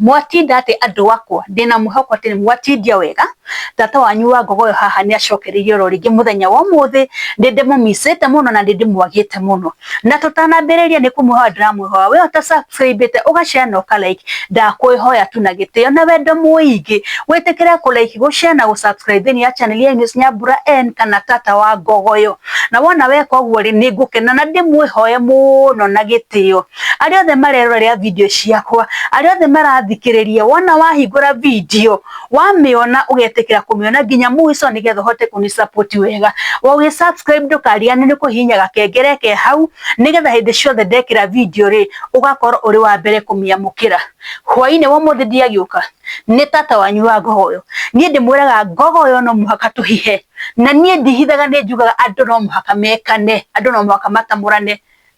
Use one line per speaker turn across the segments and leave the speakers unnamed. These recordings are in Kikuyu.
Mwatinda atĩ andũ akwa? Ndĩ na mwĩhoko atĩ nĩ mwatindia wega. Tata wanyu wa ngogoyo haha nĩ acokereirie o ro rĩngĩ mũthenya wa ũmũthĩ. Nĩ ndĩmũmicĩte mũno na nĩ ndĩmwagĩte mũno. Na tũtanambĩrĩria nĩ kũmwĩhoya ndĩramwĩhoya wee ũta subscribe ĩte ũga share na ũka like, ndakwĩhoya tu na gĩtĩo na wendo mũingĩ wĩtĩkĩre kũ like, gũ share na gũ subscribe thĩinĩ ya channel ya Eunice Nyambura N kana Tata wa Ngogoyo. Na wona weka ũguo rĩ, nĩ ngũkena na ndĩmwĩhoye mũno na gĩtĩo. arĩa othe marerorera video ciakwa arĩa othe marathikĩrĩria wona wahingũra video wamĩona ũgetĩkĩra kũmĩona nginya mũico nĩgetha ũhote kũni support wega ũgĩ subscribe ndũkariganĩrwo nĩ kũhihinya gakengere ke hau nĩgetha hĩndĩ ciothe ndekĩra video rĩ ũgakorwo ũrĩ wa mbere kũmĩamũkĩra hwainĩ wa ũmũthĩ ndiagĩũka nĩ tata wanyu wa ngogoyo niĩ ndĩmwĩraga ngogoyo no mũhaka tũhihe na niĩ ndihithaga nĩ njugaga andũ no mũhaka mekane andũ no mũhaka matamũrane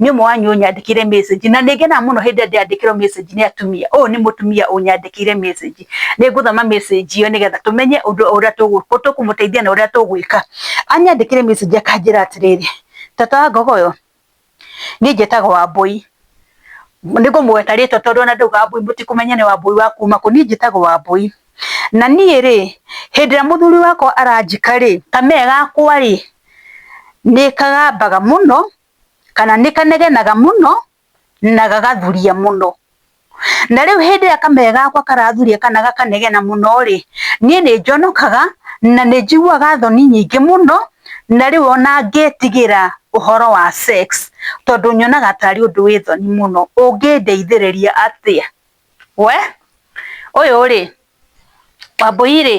nĩ ũmwe wanyu ũnyandĩkĩire message na nĩngenaga mũno hĩndĩ ĩrĩa ndĩandĩkĩrwo message nĩ atumia. Ũyũ nĩ mũtumia ũnyandĩkĩire message. Nĩ ngũthoma message ĩyo nĩgetha tũmenye ũndũ ũrĩa tũkũmũteithia na ũrĩa tũgwĩka. Anyandĩkĩire message akanjĩra atĩrĩrĩ, Tata wa Ngogoyo, niĩ njĩtagwo Wambũi. Nĩ ngũmũgweta rĩtwa tondũ ona ndauga Wambũi mũtikũmenya nĩ Wambũi wa kuuma kũ. Niĩ njĩtagwo Wambũi. na niĩ rĩ, hĩndĩ ĩrĩa mũthuri wakwa aranjika rĩ, kamee gakwa rĩ, nĩ kagambaga mũno, kana nĩ kanegenaga mũno, na gagathuria mũno. Na rĩu hĩndĩ ĩrĩa kamee gakwa karathuria kana gakanegena mũno rĩ, niĩ nĩ njonokaga, na nĩ njiguaga thoni nyingĩ mũno, na rĩu ona ngĩtigĩra ũhoro wa sex, tondũ nyonaga tarĩ ũndũ wĩ thoni mũno. Ũngĩndeithĩrĩria atĩa? We ũyũ rĩ Wambũi rĩ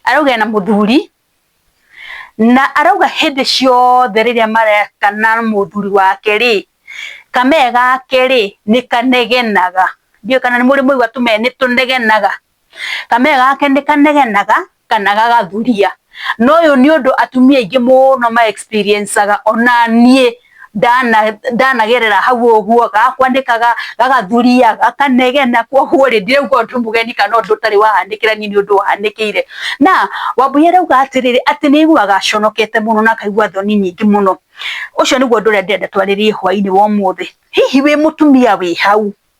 arauga ena mũthuri na arauga hĩndĩ ciothe rĩrĩa mareka na mũthuri wake rĩ kamee gake rĩ nĩkanegenaga. Ndiũĩ kana nĩmũrĩ mwaigua tũmee nĩtũnegenaga. Kameme gake nĩ kanegenaga kana gagathuria. Na ũyũ nĩ ũndũ atumia aingĩ mũno ma experiencaga ona niĩ ndanagerera hau ũguo, gakwa nĩ gagathuria, gakanegena, koguo rĩ ndirauga ũndũ mũgeni kana ũndũ ũtarĩ wahanĩkĩra niĩ nĩ ũndũ wahanĩkĩire. Na Wambũi arauga atĩrĩrĩ, atĩ nĩ aiguaga aconokete mũno na akaigua thoni nyingĩ mũno. Ũcio nĩguo ũndũ ũrĩa ndĩrenda twarĩrĩe hwainĩ wa ũmũthĩ. Hihi wĩ mũtumia wĩ hau?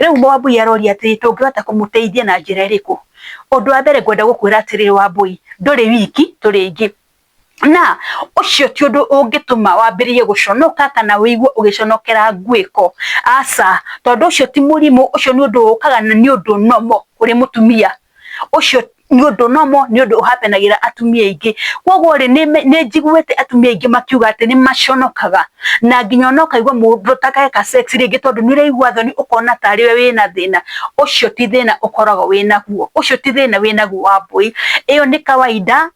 rĩu Wambui aroria atĩrĩ tũngĩhota kũmũteithia na njĩra ĩrĩkũ? Ũndũ wa mbere ngwenda gũkwĩra atĩrĩrĩ Wambui, ndũrĩ wiki tũrĩ aingĩ na ũcio ti ũndũ ũngĩtũma wambĩrĩrie gũconoka kana wĩigue ũgĩconokera ngwĩko, aca, tondũ ũcio ti mũrimũ ũcio nĩ ũndũ ũkaga na nĩ ũndũ normal kũrĩ mũtumia. ucio ni undu nomo ni undu uhapenagira atumia ingi koguo ri ni njiguite atumia ingi makiuga ati ni maconokaga na nginya no kaigua mundu takeka sex ringi tondu ni uraigua thoni ukona tari we wina thina ucio ti thina ukoragwo winaguo ucio ti thina winaguo wa mbui iyo ni kawaida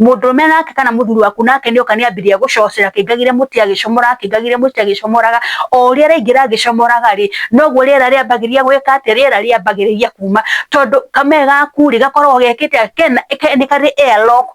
mũndũrũme nake kana mũthuri waku nake nĩoka nĩambĩrĩria gũcocera akĩngagire mũtĩ agĩcomora akĩngagire mũtĩ agĩcomoraga o ũrĩa araingĩra agĩcomoraga rĩ noguo rĩera rĩambagĩrĩria gwĩka atĩ rĩera rĩambagĩrĩria kuma tondũ kame gaku rĩ gakoragwo gekĩte nĩ karĩ air lock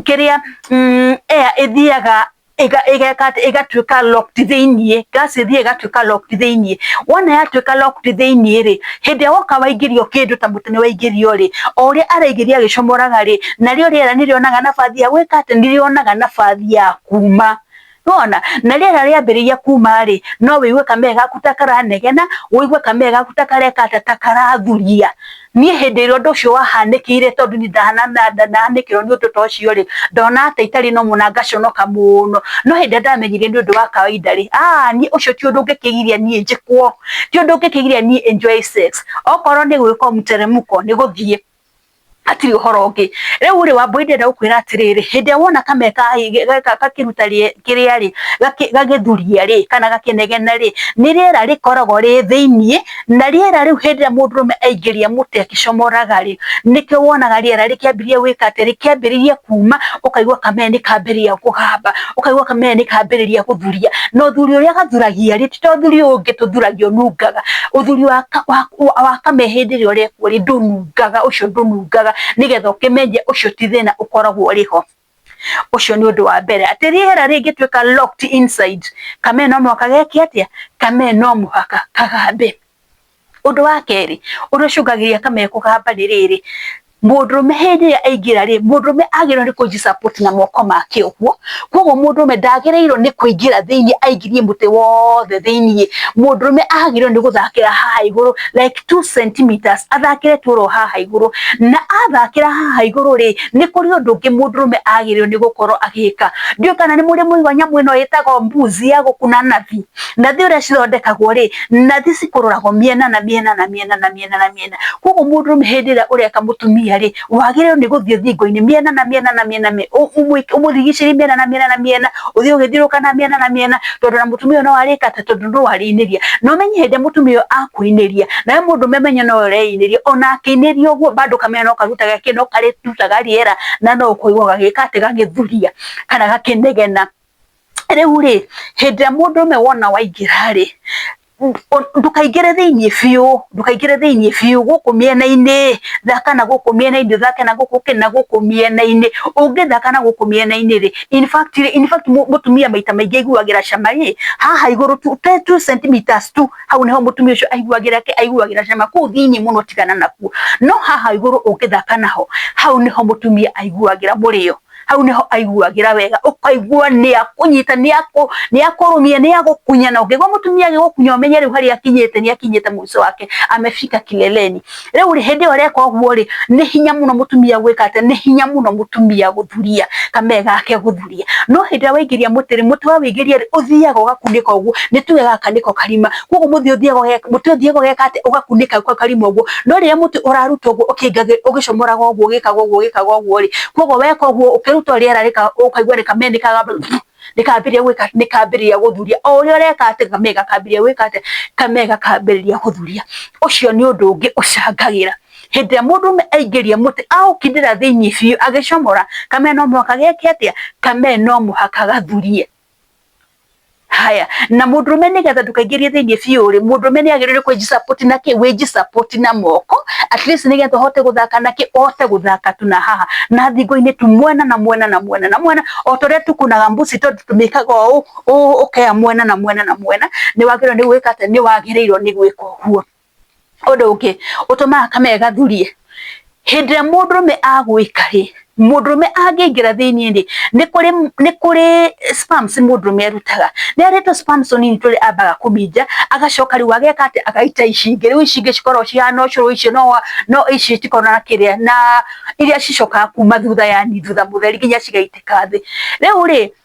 kĩrĩa mm, air ĩthiaga ĩgatuĩka locked thĩinĩ gas ĩthiĩ ĩgatuĩka locked thĩinĩ wona yatuĩka locked thĩinĩ rĩ hĩndĩ ĩrĩa woka waingĩrio kĩndũ ta mũtĩ nĩ waingĩrio rĩ o ũrĩa araingĩria agĩcomoraga rĩ narĩo rĩera nĩ rĩonaga nabathi ya gwĩka atĩa nĩ rĩonaga nabathi ya kuma nĩ wona na rĩera rĩambĩrĩria kuma rĩ no wĩigue kamee gaku ta karanegena wĩigue kamee gaku ta kareka atĩa ta karathuria. Niĩ hĩndĩ ĩrĩa ũndũ ũcio wahanĩkĩire, tondũ niĩ ndahanĩkĩrwo nĩ ũndũ ta ũcio-rĩ, ndonaga ta itarĩ na ũmũ na ngaconoka mũno. No hĩndĩ ĩrĩa ndamenyire nĩ ũndũ wa kawaida-rĩ, aah niĩ ũcio ti ũndũ ũngĩkĩgiria niĩ njĩkwo, ti ũndũ ũngĩkĩgiria niĩ enjoy sex. Okorwo nĩ gwĩkwo mteremko, nĩ gũthiĩ, hatirĩ ũhoro ũngĩ. Rĩu-rĩ, Wambũi ndĩrenda gũkwĩra atĩrĩrĩ, hĩndĩ ĩrĩa wona kamee gakĩruta kĩrĩa-rĩ, gagĩthuria-rĩ, kana gakĩnegena-rĩ, nĩ rĩera rĩkoragwo rĩ thĩiniĩ. na rĩera rĩu hĩndĩ ĩrĩa mũndũrũme aingĩria mũtĩ akĩcomoraga-rĩ, nĩkĩo wonaga rĩera rĩkĩambĩrĩria gwĩka atĩ rĩkĩambĩrĩria kuuma, ũkaigua kameme nĩ kambĩrĩria kũgamba, ũkaigua kameme nĩ kambĩrĩria gũthuria, na ũthuri ũrĩa gathuragia-rĩ, ti ta ũthuri ũyũ ũngĩ tũthuragia ũnungaga, ũthuri wa wa kameme hĩndĩ ĩrĩa ũrekwo-rĩ ndũnungaga, ũcio ndũnungaga, nĩgetha ũkĩmenye ũcio ti thĩna ũkoragwo ũrĩ ho. Ũcio nĩ ũndũ wa mbere, atĩ rĩera rĩngĩtuĩka locked inside, kamee no mũhaka geke atĩa? Kamee no mũhaka kagambe. Ũndũ wa kerĩ, ũrĩa ũcũngagĩrĩria kamee kũgamba nĩ rĩrĩ, mũndũrũme hĩndĩ ĩrĩa aingĩra rĩ, mũndũrũme agĩrĩirwo nĩ kũji support na moko make ũguo, koguo mũndũrũme ndagĩrĩirwo nĩ kũingĩra thĩiniĩ aingĩrie mũtĩ wothe thĩiniĩ, mũndũrũme agĩrĩirwo nĩ gũthakĩra haha igũrũ like. 2 centimeters athakire toro haha iguru na athakira haha iguru ri ni kuri undu ngi mundurume agirirwo ni gukorwo agika ndio kana ni muri muigwa nyamu ino yitagwo mbuzi ya gukuna nathi nathi uria cithondekagwo ri nathi cikururagwo miena na miena na miena na miena na miena koguo mundurume hindi iria ureka mutumia ri wagĩrĩirwo nĩ gũthiĩ thingo-inĩ mĩena na mĩena na mĩena mĩ- ũ- ũmũ- ũmũrigicĩrie mĩena na mĩena na mĩena ũthiĩ ũgĩthiũrũka na mĩena na mĩena tondũ na mũtumia ũyũ no arĩka atĩ tondũ no arĩinĩria na ũmenye hĩndĩ ĩrĩa mũtumia ũyũ akũinĩria nawe mũndũ memenye no ũreinĩria ona akĩinĩria ũguo bado kamena no karutaga kĩ no karĩrutaga rĩera na no ũkũigua gagĩka atĩ gagĩthuria kana gakĩnegena rĩu rĩ hĩndĩ ĩrĩa mũndũ ũmwe wona waingĩra rĩ ndũkaingĩre thĩinĩ biũ, ndũkaingĩre thĩinĩ biũ, gũkũ mĩena-inĩ, thaka na gũkũ mĩena-inĩ, ũthake na gũkũ kĩ, na gũkũ mĩena-inĩ. Ũngĩthaka na gũkũ mĩena-inĩ rĩ, in fact rĩ, in fact mũtumia maita maingĩ aiguagĩra cama ĩ, haha igũrũ tu, ta two centimetres tu, hau nĩho mũtumia ũcio aiguagĩra kĩ, aiguagĩra cama. Kũu thĩinĩ mũno tigana nakuo. No haha igũrũ ũngĩthaka naho, hau nĩho mũtumia aiguagĩra mũrĩo. hau niho aiguagĩra wega ũkaigua nĩ akũnyita nĩ akũ nĩ akũrũmia nĩ agũkunya na ũngĩgwa mũtumia agĩgũkunya ũmenye rĩu harĩa akinyĩte nĩ akinyĩte mũico wake amefika kileleni rĩu rĩ hĩndĩ ĩyo reka ũguo rĩ nĩ hinya mũno mũtumia gwĩka atĩ nĩ hinya mũno mũtumia gũthuria kame gake gũthuria no hĩndĩ ĩrĩa waingĩria mũtĩ rĩ mũtĩ wa wĩingĩria rĩ ũthiaga ũgakunĩka ũguo nĩ tuge gaka nĩko karima koguo muthi uthiaga ugeka muti uthiaga ugeka ati ugakuneka kwa karima uguo no riria muti uraruta uguo ukingage ugicomoraga uguo ugikaga uguo ugikaga uguo ri koguo weka uguo ukiruta riera rika ukaigua rikamenekaga nikambiria gwika nikambiria guthuria o uria ureka ati kame gakambiria gwika ati kame gakambiria guthuria ucio ni undu ungi ucangagira hindi ya mundu me aingiria muti aukindira thiini biu agicomora kame no muhaka geke atia kame no muhaka gathurie haya na mundurume nigetha ndukaingirie thiini biu ri mundurume ni agirire kwijisupport na ki wijisupport na moko at least nigetha uhote guthaka na ki uhote guthaka tu na haha na thingo-ini tu mwena na mwena na mwena na mwena o ta uria tukunaga mbuci tondu tumikaga uu ukea mwena na mwena na mwena ni wagirwo ni gwika atia ni wagirirwo ni gwika uguo ũndũ ũngĩ ũtũmaga kamere gathurie hĩndĩ ĩrĩa mũndũrũme agwĩka rĩ mũndũrũme angĩingĩra thĩinĩ rĩ nĩ kũrĩ nĩ kũrĩ sperms mũndũrũme arutaga nĩ harĩ tũ sperms tũnini tũrĩa ambaga kũminja agacoka rĩu ageka atĩ agaita ici ingĩ rĩu ici ingĩ cikoragwo cihana ũcũrũ icio no no ici itikoragwo na kĩrĩa na iria cicokaga kuma thutha yani thutha mũtheri nginya cigaitĩka thĩ rĩu rĩ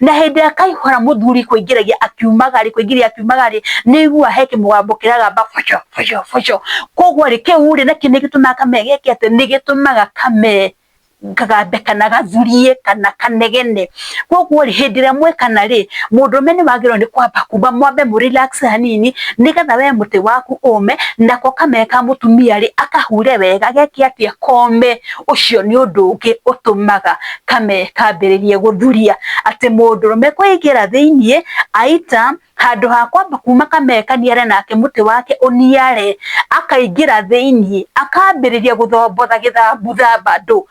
na hĩndĩ ĩrĩa kaihũra mũthuri kũingĩragia akiumaga rĩ kũingĩria akiumaga rĩ nĩ igua he kĩmũgambo kĩragamba boco boco boco koguo rĩ kĩu rĩ nakĩ nĩ gĩtũmaga kame gĩke atĩ nĩ gĩtũmaga kame kagambe kana gathurie kana kanegene koguo rĩ hĩndĩ ĩrĩa mwekana rĩ mũndũme nĩ wagĩrĩirwo nĩ kwamba kumba mwambe mũ relax hanini nĩgetha we mũtĩ waku ũme nako kame ka mũtumia rĩ akahure wega geke atĩa kome ũcio nĩ ũndũ ũngĩ ũtũmaga kame kambĩrĩrie gũthuria atĩ mũndũrũme kũingĩra thĩinĩ aita handũ ha kwamba kuma kame kaniare nake mũtĩ wake ũniare akaingĩra thĩinĩ akambĩrĩria gũthombotha gĩthambutha bado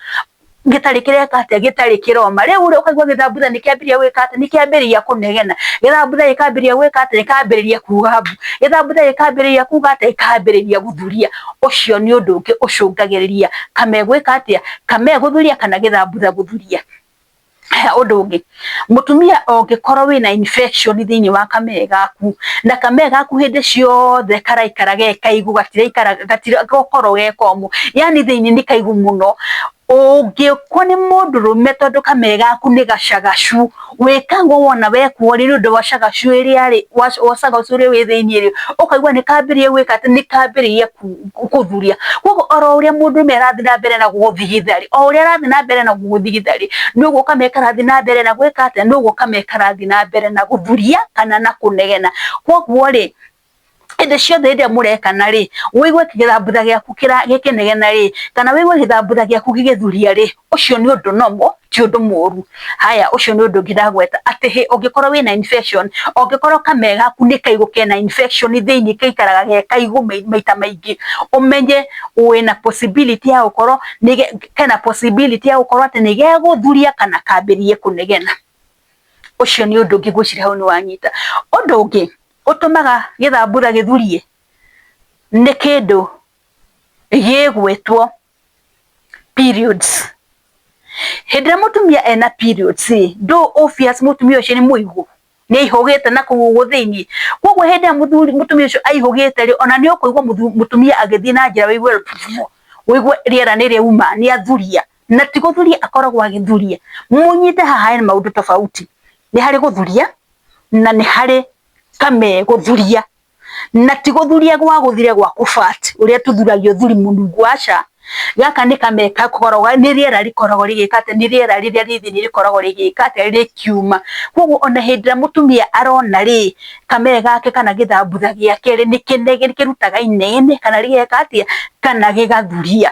gĩtarĩ kĩreka atĩa gĩtarĩ kĩroma rĩu ũrĩa ũkaigua gĩthambutha nĩ kĩambĩrĩria gwĩka atĩa nĩ kĩambĩrĩria kũnegena gĩthambutha gĩkambĩrĩria gwĩka atĩa gĩkambĩrĩria kuga mbu gĩthambutha gĩkambĩrĩria kuga atĩa gĩkambĩrĩria gũthuria. ũcio nĩ ũndũ ũngĩ ũcũngagĩrĩria kame gwĩka atĩa, kame gũthuria kana gĩthambutha gũthuria. He ũndũ ũngĩ, mũtumia ũngĩkorwo wĩna infection thĩinĩ wa kame gaku, na kame gaku hĩndĩ ciothe karaikara ge kaigũ, gatiraikara gatigokorwo ge komũ, yaani thĩinĩ nĩ kaigũ mũno, Ũngĩkwo nĩ mũndũrũme tondũ kamee gaku nĩ gacagacu, wĩka ũguo wona wekwo rĩ, nĩ ũndũ wa cagacu ĩrĩa rĩ, wa cagacu ũrĩa wĩ thĩiniĩ rĩ, ũkaigua nĩ kambĩrĩria gwĩka atĩ, nĩ kambĩrĩria kũthuria. Kũguo oro ũrĩa mũndũrũme arathiĩ na mbere na gũgũthigitha rĩ, o ũrĩa arathiĩ na mbere na gũgũthigitha rĩ, noguo kamee karathiĩ na mbere na gwĩka atĩa, noguo kamee karathiĩ na mbere na gũthuria kana na kũnegena. Kũguo rĩ, hĩndĩ ciothe hĩndĩ ĩrĩa mũrekana rĩ wĩigue gĩthambutha gĩaku gĩkĩnegena rĩ kana wĩigue gĩthambutha gĩaku gĩgĩthuria rĩ ũcio nĩ ũndũ normal ti ũndũ mũru haya ũcio nĩ ũndũ ũngĩ ndagweta atĩ hĩ ũngĩkorwo wĩna infection ũngĩkorwo kamee gaku nĩ kaigũ kena infection thĩinĩ gaikaraga ge kaigũ maita maingĩ ũmenye wĩna possibility ya gũkorwo kena possibility ya gũkorwo atĩ nĩ gegũthuria kana kambĩrĩrie kũnegena. ũcio nĩ ũndũ ũngĩ ngwĩciria hau nĩ wanyita. Ũndũ ũngĩ ũtũmaga gĩthambura gĩthurie nĩ kĩndũ gĩgwĩtwo periods. Hĩndĩ ĩrĩa mũtumia ena periods rĩ, ndũĩ obvious mũtumia ũcio nĩ mũigũ, nĩ aihũgĩte na kũu ũguo thĩiniĩ. Koguo hĩndĩ ĩrĩa mũtumia ũcio aihũgĩte rĩ, ona nĩ ũkũigua mũtumia agĩthiĩ na njĩra ũigue ũigue rĩera nĩ rĩauma, nĩ athuria. na ti gũthuria akoragwo agĩthuria mũnyite haha nĩ maũndũ tofauti nĩ harĩ gũthuria na nĩ harĩ kame gũthuria na ti gũthuria gwa gũthire gwa kũbat ũrĩa tũthuragia ũthuri mũnungu aca gaka nĩ kame gakoragwo nĩ rĩera rĩkoragwo rĩgĩka atĩ nĩ rĩera rĩrĩa rĩ thĩinĩ rĩkoragwo rĩgĩka atĩ rĩkiuma koguo ona hĩndĩ ĩrĩa mũtumia arona rĩ kame gake kana gĩthambutha gĩake rĩ nĩ kĩrutaga inene kana gĩgeka atĩa kana gĩgathuria.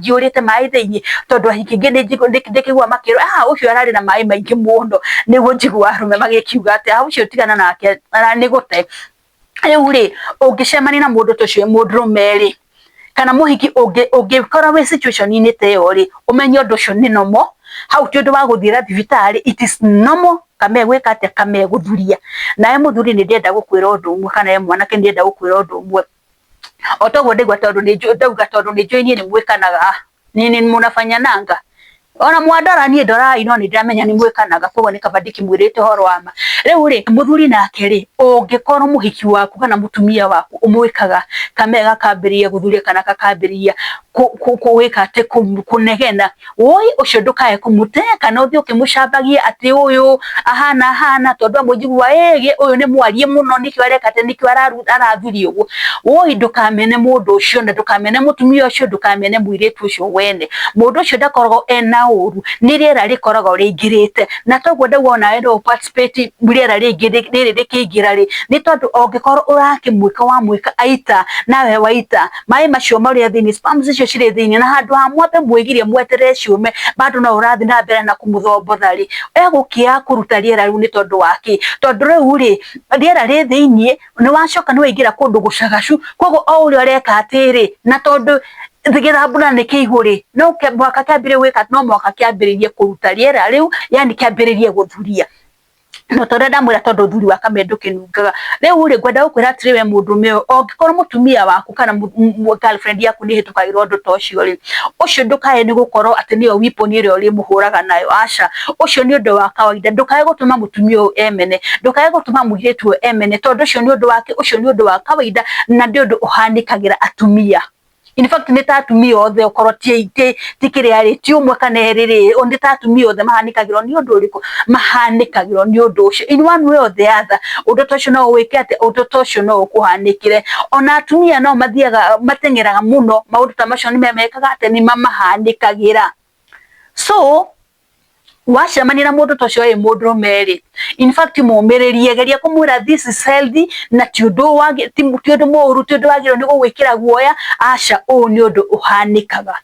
njiyũrĩte maĩ thĩinĩ tondũ ahingi ingĩ ndĩkĩgua makĩrwo ah ũcio ararĩ na maĩ maingĩ mũno nĩguo njigua arũme magĩkiuga atĩ ah ũcio tigana nake aranĩgũte. Rĩu rĩ ũngĩcemania na mũndũ ta ũcio wĩ mũndũrũme rĩ kana mũhiki ũngĩkora wĩ situation -inĩ ta ĩyo rĩ ũmenye ũndũ ũcio nĩ normal hau ti ũndũ wa gũthiĩra thibitarĩ it is normal kamegwĩka atĩa kamegũthuria. Nawe mũthuri nĩ ndĩrenda gũkwĩra ũndũ ũmwe kana we mwanake nĩ ndĩrenda gũkwĩra ũndũ ũmwe. o toguo ndigua tondu ni ndauga tondu ni njui nie ni mwikanaga ni ni munafanya nanga ona mwandora nie ndorai no ni ndiramenya ni mwikanaga koguo ni kaba ndikimwirite horo wa ma riu ri muthuri nake ri ungikorwo muhiki waku kana mutumia waku umwikaga kamega kambiria guthuria kana kakambiriria kuwika ati kunegena Woi ũcio ndũkae kũmũte kana ũthiĩ ũkĩmũcambagie atĩ ũyũ ahana ahana tondũ amwe njigua ĩĩ ũyũ nĩ mwarie mũno nĩkĩo areka atĩ nĩkĩo arathuria ũguo. Woi ndũkamene mũndũ ũcio na ndũkamene mũtumia ũcio ndũkamene mũirĩtu ũcio wene. Mũndũ ũcio ndakoragwo ena ũru nĩ rĩera rĩkoragwo rĩingĩrĩte na toguo ndauga onawe no ũ participate rĩera rĩngĩ rĩrĩ rĩkĩingĩra rĩ, nĩ tondũ ũngĩkorwo ũrakĩmwĩka wamwĩka aita nawe waita maĩ macio marĩa thĩinĩ sperms icio cirĩ thĩinĩ na handũ ha mwambe mwĩgirie mweterere ciume bado no ũrathi na mbere na kũmũthombotha rĩ egũkĩa kũruta rĩera rĩu nĩ tondũ wa kĩ tondũ rĩu rĩ rĩera rĩ thĩinĩ nĩ wacoka nĩ waingĩra kũndũ gũcagacu koguo o ũrĩa ũreka atĩrĩ na tondũ gĩthambura nĩ kĩigũ rĩ no mũhaka kĩambĩrĩrie gwĩka no mũhaka kĩambĩrĩrie kũruta rĩera rĩu yani kĩambĩrĩrie gũthuria no tondu ndamwira tondu thuri wa kame ndukinungaga riu ri ngwenda gukwira atiri we mundu me ongikorwo mutumia waku kana girlfriend yaku ni hitukagirwo ndu to cio ri ucio ndukae ni gukorwo ati niyo weapon iri uri muhuraga nayo aca ucio ni undu wa kawaida ndukae gutuma mutumia uyu emene ndukae gutuma muiritu uyu emene tondu ucio ni undu wake ucio ni undu wa kawaida na ndi undu uhanikagira atumia in fact nĩ ta atumia othe okorwo ti ti kĩrĩa rĩ ti ũmwe kana erĩ rĩ nĩ ta atumia othe mahanĩkagĩrwo nĩ ũndũ ũrĩkũ mahanĩkagĩrwo nĩ ũndũ ũcio in one way or the other ũndũ ta ũcio no ũwĩke atĩ ũndũ ta ũcio no ũkũhanĩkĩre ona atumia no mathiaga mateng'eraga mũno maũndũ ta macio nĩ mamekaga atĩ nĩ mamahanĩkagĩra so wacemania na mũndũ ta ũcio ĩ mũndũ ũmeri in fact mũmĩrĩrie geria kũmwĩra this is healthy na ti ũndũ wagi ti ti ũndũ mũũru ti ũndũ wagĩrĩirwo nĩ gũgwĩkĩra guoya aca ũũ nĩ ũndũ ũhanĩkaga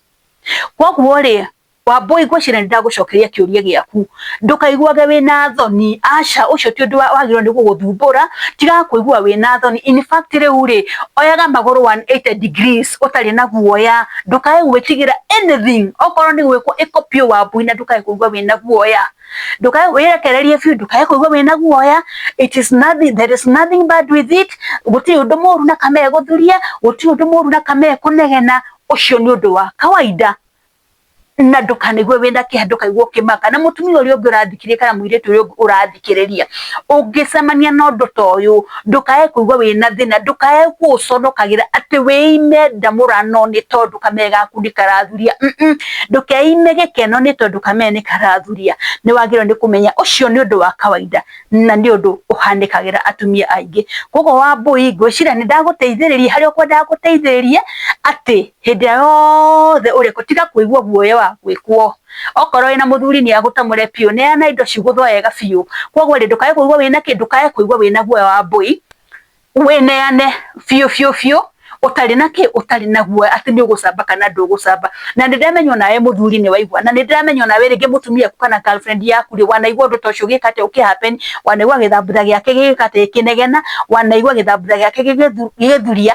koguo rĩ wambũi ngwĩciria nĩ ndagũcokeria kĩũria gĩaku ndũkaiguage wĩna thoni aca ũcio ti ũndũ wa- wagĩrĩirwo nĩ gũgũthumbũra tiga kũigua wĩna thoni in fact rĩu rĩ oyaga magũrũ 180 degrees ũtarĩ na guoya ndukae gwĩtigĩra anything okorwo nĩ gwĩkwo ĩko biũ wambui na ndukae kũigua wĩna guoya ndukae wĩrekererie biũ ndukae kũigua wĩna guoya it is nothing there is nothing bad with it gũtirĩ ũndũ mũru na kana egũthuria gũtirĩ ũndũ mũru na kana ekũnegena ũcio nĩ ũndũ wa kawaida na ndũkanaigue wĩna kĩeha ndũkaigua ũkĩmaka na mũtumia ũrĩa ũngĩ ũrathikĩrĩria kana mũirĩtu ũrĩa ũngĩ ũrathi kũrĩkĩrĩria. Ũngĩcemania na ũndũ ta ũyũ, ndũkae kũigua wĩna thĩna, ndũkae gũũconokagĩra atĩ wĩime nda mũranoo nĩ tondũ kamere gaku nĩ karathuria. Ndũkeime gĩkeno nĩ tondũ kamere nĩ karathuria. Nĩ wagĩrĩirwo nĩ kũmenya ũcio nĩ ũndũ wa kawainda na nĩ ũndũ ũhanĩkagĩra atumia aingĩ. Kũguo Wambũi ngwĩciria nĩ ndagũteithĩrĩria harĩa ũkwendaga ngũteithĩrĩrie atĩ Hĩndĩ ĩrĩa yothe ũrĩ kuo, tiga kũigua guoya wa gwĩkwo. Okorwo wĩna mũthuri nĩ agũtamũre biũ, neana indo cigũthwo wega biũ. Kwoguo rĩ, ndũkae kũigua wĩna kĩ? Ndũkae kũigua wĩna guoya wa mbũi, wĩneane biũ biũ biũ, ũtarĩ na kĩ? Ũtarĩ na guoya atĩ nĩ ũgũcamba kana ndũgũcamba. Na nĩ ndĩramenya o nawe mũthuri nĩ waigua, na nĩ ndĩramenya o nawe rĩngĩ mũtumia waku kana girlfriend yaku rĩ, wanaigua ũndũ ta ũcio ũgĩka atĩa? Ũkĩ happen, wanaigua gĩthambutha gĩake gĩgĩka atĩa? Gĩkĩnegena, wanaigua gĩthambutha gĩake gĩgĩthuria.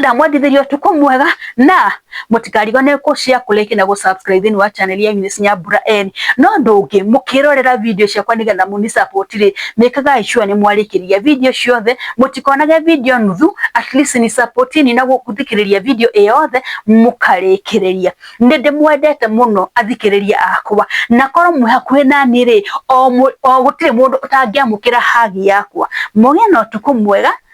ndamwendithĩria ũtukũ mwega na mũtikarigane kũ share kũ like na gũ subscribe thĩinĩ wa channel ya Eunice Nyambura N no ũndũ ũngĩ mũkĩrorera video ciakwa nĩgetha mũni support rĩ mĩkagai sure nĩ mwarĩkĩria video ciothe mũtikonage video nuthu at least ni support ni na gũthikĩrĩria video ĩyothe mũkarĩkĩrĩria nĩ ndĩmwendete mũno athikĩrĩria akwa na korwo mwĩ hakuhĩ nani rĩ o gũtirĩ mũndũ ũtangĩamũkĩra hagi yakwa mũgĩe na ũtukũ mwega